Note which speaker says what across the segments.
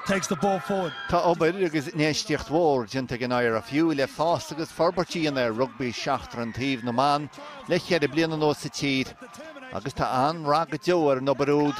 Speaker 1: takes the ball forward. Tá obair agus infheistíocht mhór déanta ag an IRFU le fás agus forbairt a dhéanamh ar rugbaí seachtar an taobh na mban le ceithre bliana anuas sa tír agus tá an-rath go deo ar an obair úd.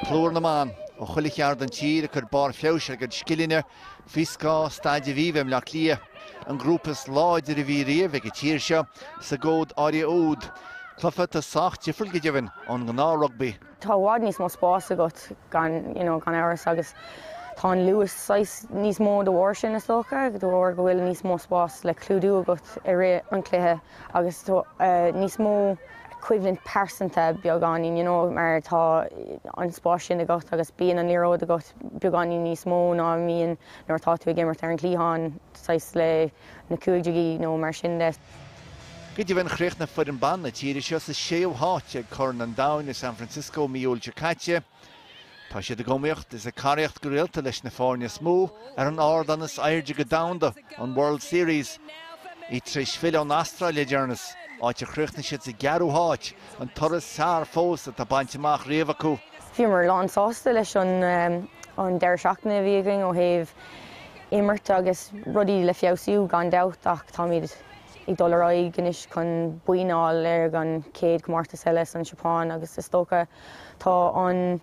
Speaker 1: Plúr na mban ó chuile cheard den tír ag cur barr feabhais ar a gcuid scileanna Fíorscoth á dtaibhiú i mBleá Cliath, an grúpa is láidir a bhí riamh ag an tír seo, sa gcód áirithe úd. Cluiche atá sách difriúil go deimhin ón ngnáth-rugbaí. Tá i bhfad níos mó spás agat gan, you know, gan amhras agus tá an luas saghas níos mó de bharr sin is dócha, de bharr go bhfuil níos mó spás le clúdú agat i rith an chluiche agus tá níos mó coimhlint pearsanta beagáinín, you know, mar tá an spás sin agat agus bíonn an liathróid agat. beagáinín níos mó ná a bhíonn nuair atá tú ag imirt ar an gcliathán, saghas le na cúig déagaí nó mar sin de. Go deimhin, chríochnaigh foireann ban na tíre seo sa séú háit ag Corn an Domhain i San Francisco mí Iúil seo caite. Tá siad ag iomaíocht is ag caraíocht go rialta leis na foirne is mó ar an ardán is airde go domhanda, an World Series. Iad tar éis filleadh ón Astráil le deireanas, áit ar chríochnaigh siad sa gceathrú háit, an toradh is fearr fós atá bainte amach riamh acu. Bhíomar lán sásta leis an an deireadh seachtaine a bhí againn ó thaobh imirt agus rudaí le feabhsú gan dabht ach táimid ag dul ar aghaidh anois chun boinn a fháil ar an chéad comórtas eile sa tSeapáin agus is dócha tá an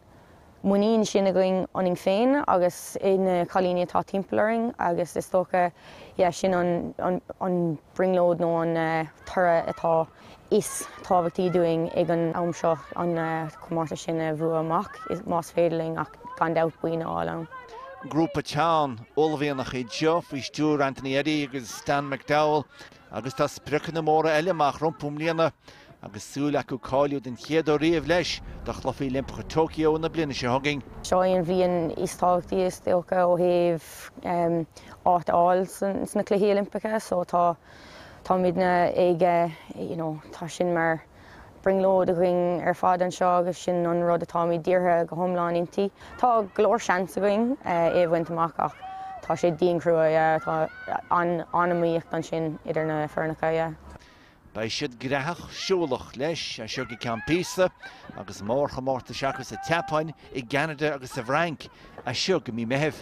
Speaker 1: muinín sin againn ionainn féin agus ina cailíní atá timpeall orainn agus is dócha, yeah, sin an, an, an brionglóid nó an toradh atá is tábhachtaí dúinn ag an am seo, an comórtas sin a bhua amach is, más féidir linn ach gan dabht boinn a fháil ann. Grúpa teann, uaillmhianach iad seo faoi stiúir Anthony Eddy agus Stan McDowell. Agus tá spriocanna móra eile amach rompu i mbliana, agus súil acu cáiliú den chéad uair riamh leis do Chluichí Oilimpeacha Tokyo na bliana seo chugainn. Seo í an bhliain is tábhachtaí, is dócha, ó thaobh áit a fháil sna Cluichí Oilimpeacha, so tá táimidne ag, you know, tá sin mar, brionglóid againn ar fad anseo agus sin an rud atáimid dírithe go hiomlán inti. Tá go leor seans againn é a bhaint amach ach tá sé dian crua, yeah. Tá an-iomaíocht ansin idir na foirneacha, yeah. Beidh siad gnaitheach siúlach leis as seo go ceann píosa agus mórchomórtais acu sa tSeapáin, i gCeanada agus sa bhFrainc as seo go mí Meithimh.